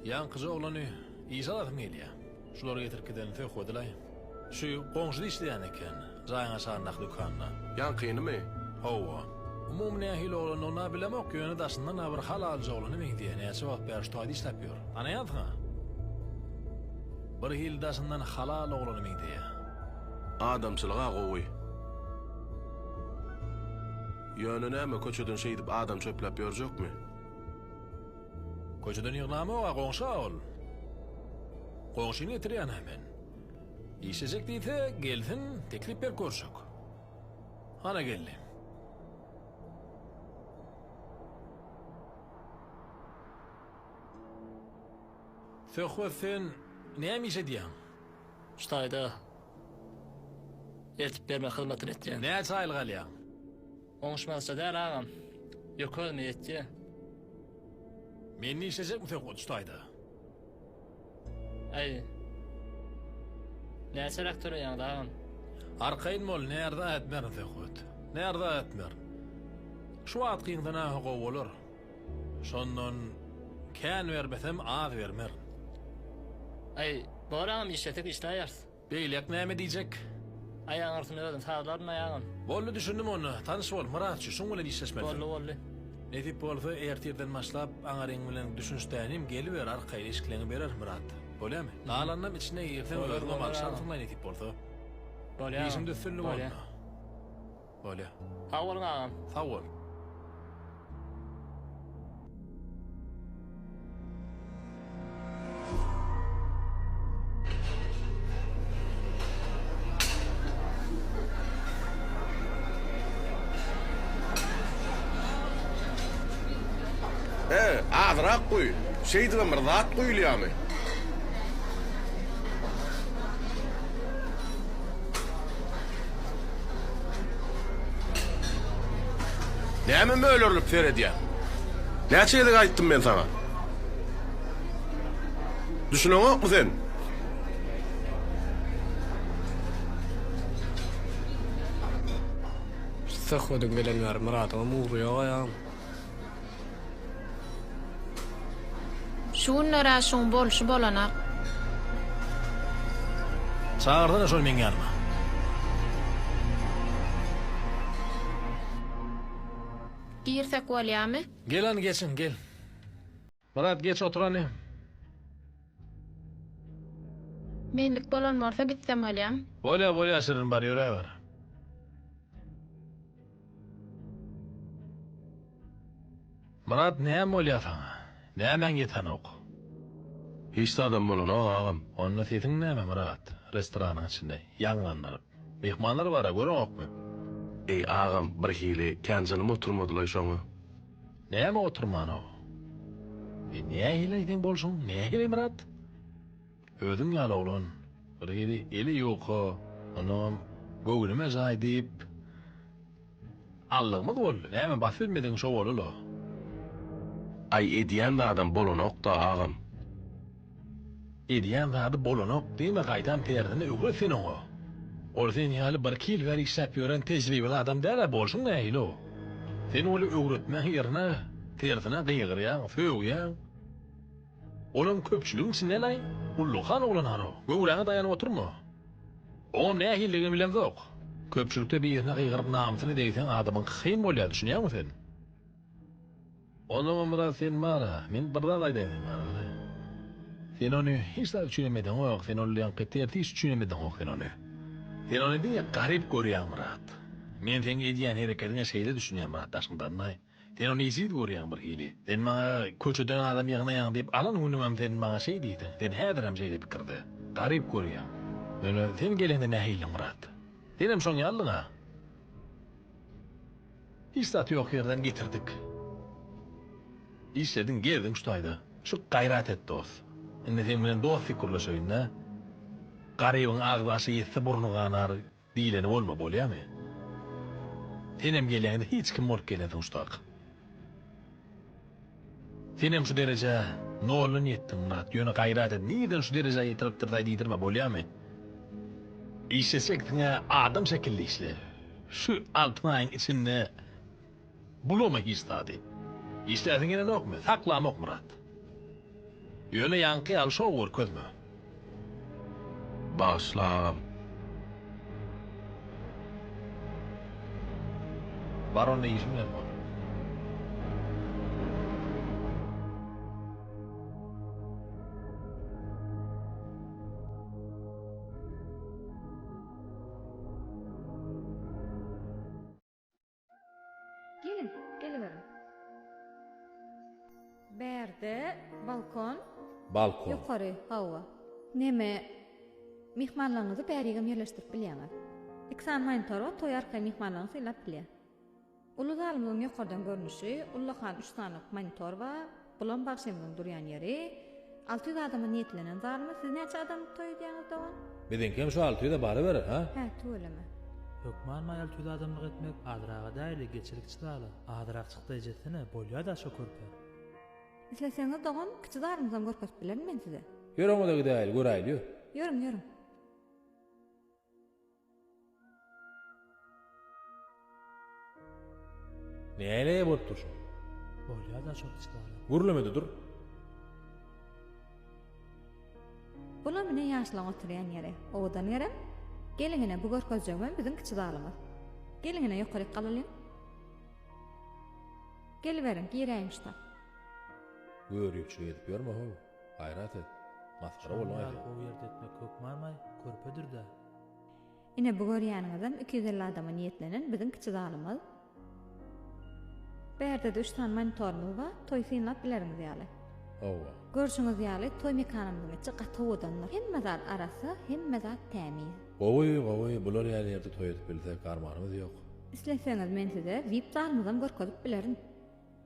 Ýaňkyja oglany işe alasym gelýä. Şulary getirip giderini söhbedilaý. Şu goňşyda işleýän eken, jaýyň aşagyndaky dükanda. Ýaňkynymy? Hawa. Umumy nähili oglandygyny-a bilemok, ýöne daşyndan-a bir hal alyjy oglana meňzeýär, näçe wagt bäri şu taýda işläp ýör. Tanaýansyň-a? Birhili daşyndan halal oglana meňzeýär. Adamçylygy-a gowy. Ýöne näme, köçeden şeýdip adam çöpläp ýörjekmi? Köçeden ýygnamok-a, goňşy-a ol. Goňşyny getirýän-ä men. Işlejek diýse, gelsin, teklip berip görşek. Hana geldi. Söhbet sen näme iş edýäň? Ştaýda. Eltip bermek hyzmatyny etýän. Näçe aýlyk alýaň? Oňuşmazça däl agam. Ýok özüme ýetýä. Mende işlejekmisek uçtaýda? Aý. Näçeräk töleýäňiz agam? Arkaýyn bol, närza ätmerin söhbet. Närza ätmerin. Şu wagt gyňsanaňha gowy bolar. Şondan kän bermesem az bermer. Aý, bor agam işlesek işläýeris. Beýlek näme diýjek? Aýagyň arsyny özüm sazlaryn aýagym. Boldy düşündim onda, tanyş bol, Myratçy, şuň bilen işleşmelisin. Boldy, boldy. Nesip bolsa ertirden başlap aňaryň bilen düşünişdänim geliber arkaýyn eşikleňi berer Myrat. Bolýamy? Galanynam içine girseň özüňem agşam synlaý nesip bolsa. Bolýa agam. Işiňde üstünlik onda. Bolýa. Sag boluň agam. Sag bol. He, azyrak guý. Şeýdibem bir zat guýulýamy? Näme mölerlip seredýäň? Näçe gezek aýtdym men saňa? Düşüneňokmy sen? Söhbediň gelen ýeri Myradyňam ugry ýok aýagym. Şu günler-ä şuň bolşy bolanak. Çagyrsana şol meň ýanyma. Girsek bolýamy? Gel hany geçiň, gel. Myrat geç oturany. Menlik bolan bolsa gitsem bolýam. Bolýa bolýa Şirin bar ýöräber. Myrat näme bolýa saňa? Nämäň ýetenok? Hiç zadam bolanok agam. Onda sesiň näme Myrat? Restoranyň içinde ýaňlandyryp. Myhmanlar bar-a, göreňokmy? Eý, agam, birhili kän jynym oturmadylaý şoňa. Näme oturman-ow? E, nähili-aý seň bolşuň, nähili, Myrat? Özüň ýaly oglan, birhili eli ýuka, onnoňam göwnüme jaý diýip. Allygymyz boldy näme bas bilmedigiň şo bolula. Aý edýän zadam bolanokda agam. Edýän zady bolanok diýme gaýtam derdini öwret sen oňa. Ol sen ýaly bir iki ýyl bäri işläp ýören tejribeli adam däl-ä bolşuň nähili o. Sen ol öwretmäň ýerine tersine gygyrýaň, sögýäň. Olam köpçüligiň içindenaý, Gulluhan oglanhanow, göwräňe daýanyp oturma. Oňam nähilidigini bilemzok. Köpçülikde birine gygyryp namysyny degseň adamyň kyn bolýar, düşünýäňmi sen? Onsoňam biraz sen bar-a, men bir zat aýdaýyn sen bar-a. Sen ony hiç zat üçin hem edeňok, sen ol ýaňky tertip üçin hem edeňok sen ony. Sen ony diňe garyp görýäň Myrat. Men seň edýän herekediňe şeýle düşünýän Myrat Daşkyndannaý. Sen ony iýsiz görýäň birhili. Sen maňa köçeden adam ýygnaýaň diýip, alan günümem sen maňa şeý diýdiň. Sen häzirem şeýle pikirde. Garyp görýäň. Ýöne sen gelende nähiliň, Myrat? Senem şoň ýalydyň-a. Hiç zat ýok ýerden getirdik. Işlediň, gezdiň şu taýda. Şu gaýrat et, dost. Indi seň bilen dost pikirleşeýin-dä. Garybyň agzy aşa ýetse burny ganar, Diýleni bolma bolýamy? Senem gelýäňde hiç kim bolup gelensiň şutak. Senem şu derejä noldan ýetdiň Myrat, ýöne gaýrat et nirden şu derejä ýetiripdirdaý diýdirme bolýamy? Işleşeksiňä adam şekilli işle. Şu alty aýyň içinde. Bulama hiç zady. Işläsiň gelenokmy, saklamok myrat. Ýöne ýaňky ýaly şou görkezme. Bagyşla agam. Bar onda işiň bilen bol. Geliň, geliberiň. Bärde balkon. Balkon. Ýokary, hawa. Neme, myhmanlaryňyzy bärigem ýerleşdirip bilýäňiz. Iki sany monitor bar, toý arkaýyn myhmanlaryňyz synlap bilýär. Uly zalymyzyň ýokardan görnüşi, ullakan üç sany monitor bar. Bulam bagşymyzyň durýan ýeri. Alty ýüz adama niýetlenen zalymy siz näçe adamlyk toý edýäňiz dogan? Biziňkem şu alty ýüze baraberer, hä? Hä, tüweleme. Hökman-a alty ýüz adamlyk etmek azraga däli geçilik çyzaly, azyrak çykda ejesene, bolýada şo körpe. Isleseňiz dogan kiçi zalymyzam görkezip bilerin men size. Ýör oňa-da gidäýeli, göräýeli ýör. Ýörüň, ýörüň. Näleý bolup dur şo? Bolýar da şol içgala. Gürlemede dur. Bular mine ýaşlaň oturýan ýeri. Owadan ýerem. Geliň ine bu görkezjegimem biziň kiçi zalymyz. Geliň ine ýokaryk galalyň. Geliberiň, giräýiň şuta. Görüpçilik edip ýörme-how. Gaýrat et. Masgara bolma. Şonda ýaly gowy ýerde etmek hökmanmaý, körpedir-dä. Ine bu görýäniňizem iki ýüz elli adama niýetlenen biziň kiçi zalymyz. Bärde-de üç sany monitorymyz bar, toý synlap bileriňiz ýaly. Hawa. Görşüňiz ýaly, toý mekanymyzyň içi gaty owadandyr. Hemme zat arassa, hemme zat tämiz. Gowy, gowy, bular ýaly ýerde toý edip bilsek, armanymyz ýok. Isleseňiz men size vip zalymyzam görkezip bilerin.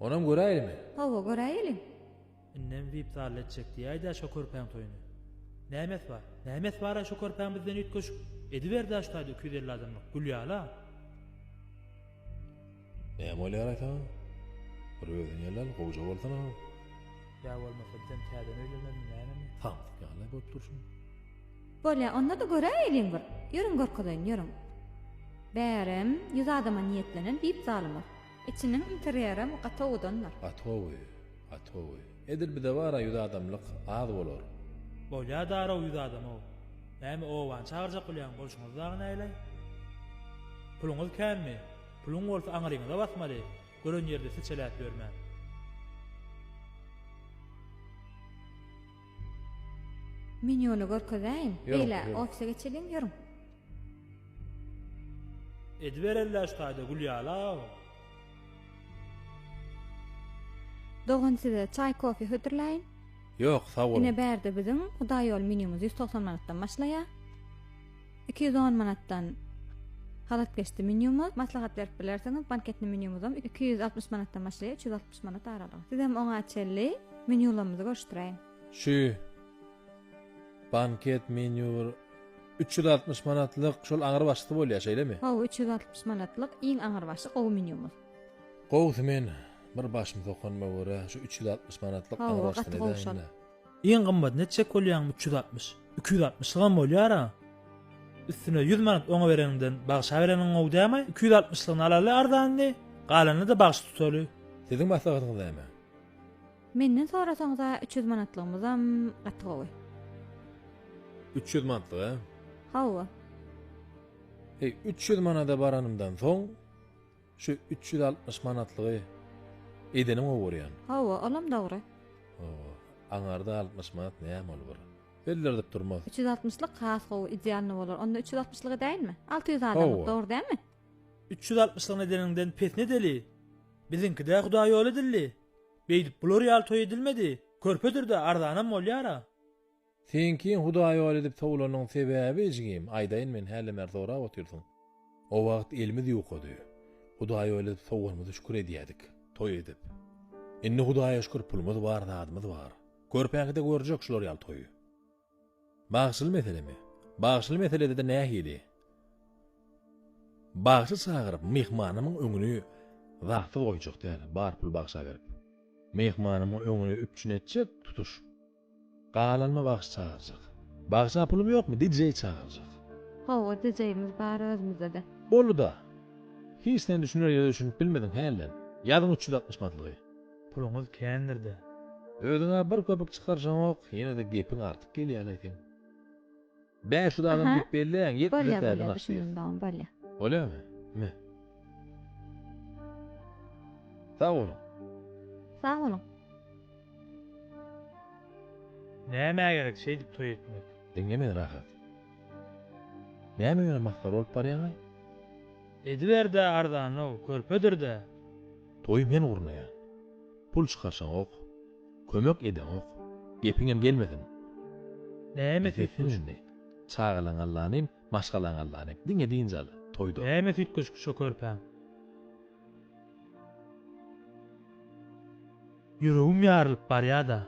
Onam göräýelimi? Hawa, göräýeliň. Indem wip-zalda etjek diýäýdä şo körpäň toýuny. Nämes bar? Nämes bar-a şo körpäň bizden üýtgeşik? Ediber-dä şu taýda iki ýüz elli adamlyk gül ýaly-a. Näme bolýar aýsaň? Bir özüň ýelläl, gowja bolsana-a. Ýa bolmasa bizem täzeden öýleneliň, nämemi? Samsyk ýaly-a bolup durşuň. Bolýa, onda-da göräýeliň bir. Ýörüň görkezeýin, ýörüň. Bärem, ýüz adama niýetlenen wip-zalymyz. Içiniň interýerem gaty owadandyr. Gatowy, gatowy. Edil bize bara ýüz adamlyk az bolar. Bolýa darag ýüz adamau. Näme obany çagyrjak bolýaň bolşuňyz dagy näleý? Puluňyz känmi? Puluň bolsa aňryňyza basmaly, gören ýerde seçeläp ýörmäň. Menýuny görkezäýiň. Beýle, ofise geçeliň, ýörüň. Edibereliş taýda Gülýaly aga. Dogan size çaý-kofe hödürläýin. Ýok, sag boluň. Ine bärde biziň Hudaýýol menýumyz ýüz togsan manatdan başlaýar. Iki ýüz on manatdan Halatkeşdi menýumyz, maslahat berip bilersiňiz, Banketni menýumyzam iki ýüz altmyş manatdan başlaýar, üç ýüz altmyş. manat aralygy. Sizem oňa çenli menýularymyzy görüşdireýin. Şu banket menýu üç ýüz altmyş manatlyk şol aňrybaşysy bolýar, şeýlemi? Hawa, üç ýüz altmyş manatlyk iň aňrybaşy gowy menýumyz. Gowusy men bir başym sokanma görä şu üç ýüz altmyş manatlyk aňrybaşysyny edäýin-le. Iň gymmat neçjek bolýaňmy üç ýüz altmyş iki ýüz altmyşlygam bolýara üstüne ýüz manat oňa bereniňden bagşa bereniň gowy dämi iki ýüz altmyşlygyny alaly arzanyny galanyny-da bagşy tutaly. Siziň maslahatyňyz näme? Menden sorasaňyza üç ýüz manatlygymyzam gaty gowy. Üç ýüz manatlyk a? Hawa. Heý üç ýüz manada baranymdan soň. Şu üç ýüz altmyş manatlygy edeniňe görýän. Hawa, olam dogry. Hawa, aňarda altmyş manat näme ol bir. Bellerdip durmaz. Üç ýüz altmyşlyk has gowy, idealny bolar. Onda üç ýüz altmyşlyk edäýinmi? Alty ýüz adamlyk, dogry dälmi? Üç ýüz altmyşlygyny edeniňden pes ne edeli? Biziňki-dä hudaý ýol edildi. Beýdip bular ýaly toý edilmedi. Körpedir-de, arzanam bolýar-a. Sen kim hudaý ol edip sowlanyň sebäbi ijgim aýdaýyn men häli mer sorap otyrsyň. O wagt elimiz ýukady. Hudaý ol edip sowganymyzy şükür edýädik. Toý edip. Indi hudaýa şükür pulumyz bar zadymyz bar. Körpäňkide görjek şular ýaly toýy. Bagşyly meselemi? Bagşyly meseledede nähili? Bagşy çagyryp myhmanymyň öňüni zatsyz goýjak däl bar pul bagşa berip. Myhmanymyň öňüni üpjün etjek tutuş. Galanma bagşy çagyrjak. Bagşy a pulum ýokmy DJ çagyrjak. Hawa DJ'miz bar özmüzede. Bolduda. Hiç sen düşüner ýere düşünip bilmediň hälden. Ýazyň üç ýüz altmyş matlygy. Puluňyz kändirdä. Özüňä bir köpük çykaryşaňok ýenede gepiň artyp gelýäleý seň. Bäş ýüz adam diýip belläň, ýetmez täze naşyr. Bolýamy? Me. Sag boluň. Sag boluň. Nämä gerek şeýdip toý etmek? Diňle meni rahat. Näme ýöne masgara bolup barýaňaý? Ediber-dä arzan-ow, körpedir-dä. Toýy men gurnaýan. Pul çykarşaňok. Kömek edeňok. Gepiňem gelmesin. Näme süýtgeşik indi. Çagalaň Allanyň, maşgalaň Allanyň. Diňe dynç al. Toýda. Näme süýtgeşik şo körpäň. Ýüregim ýarylyp barýada.